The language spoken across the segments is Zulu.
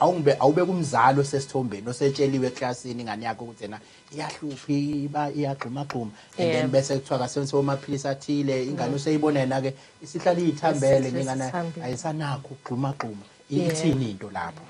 Awungibe awubeke umzali osesithombeni osetsheliwe eklasini ingane yakhe ukuthi yena iyahlupha iba iyagxuma gxuma and then Yebo. bese kuthiwa kasebenzise omaphilisi athile ingane useyibona yena ke isihlala iyithambele Isihlezi ingane isithambile. ayisanakho ukugxuma gxuma Yebo. ithini into lapho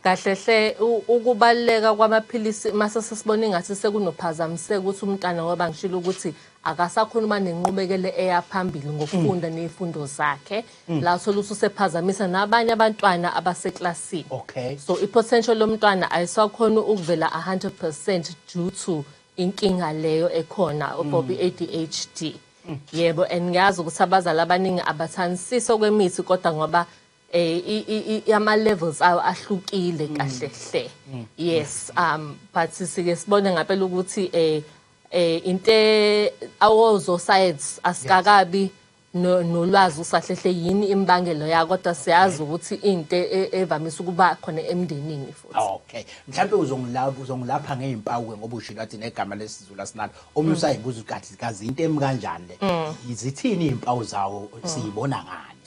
kahle hle u- ukubaluleka kwamaphilisi mase sesibona ingathi sekunophazamiseka ukuthi umntana ngoba ngishilo ukuthi akasakhona uba nenqubekele eya phambili ngokufunda ney'fundo zakhe Mm. la uthola ukuthi usephazamisa nabanye abantwana abaseklasini okay so i-potential lomntwana ayisakhona ukuvela 100% due to inkinga leyo ekhona about mm. i-adhd mm. yebo and ngiyazi ukuthi abazali abaningi abathandisisi okwemithi kodwa ngoba eh ama levels ayo ahlukile mm. kahle hle yes um but sike sibone ngapela ukuthi eh eh inte awozo science asikakabi yes. no- nolwazi usahlehle yini imbangelo ya kodwa siyazi ukuthi into e- evamise ukuba khona emndenini futhi okay mhlawumbe uzongilapha uzongilapha ngey'mpawu ke ngoba ushilo athi negama lesizulu asinalo omunye Mm. usayibuza ukuthi kathi kazi into emi kanjani le Mm. zithini iy'mpawu zawo siyibona ngani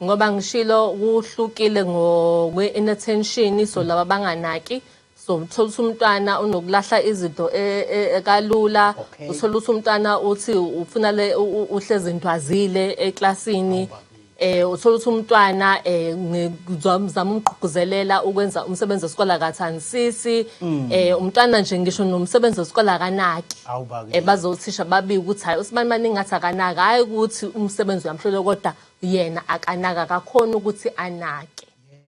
ngoba ngishilo kuhlukile ngokwe-inattention so laba banganaki Somthola ukuthi umntwana unokulahla izinto e- e- e- kalula Okay. uthola ukuthi umntwana uthi ufuna le u- u- uhlezi ntwazile eklasini eh uthola ukuthi umntwana eh ngizama umgqugquzelela ukwenza umsebenzi wesikole akathandisisi Mm. eh umntwana nje ngisho nomsebenzi wesikole akanaki Awu bakithi. eh bazothisha babike ukuthi hayi usibani maningi ngathi akanaka hayi ukuthi umsebenzi uyamhlole kodwa yena akanaka akakhona ukuthi anake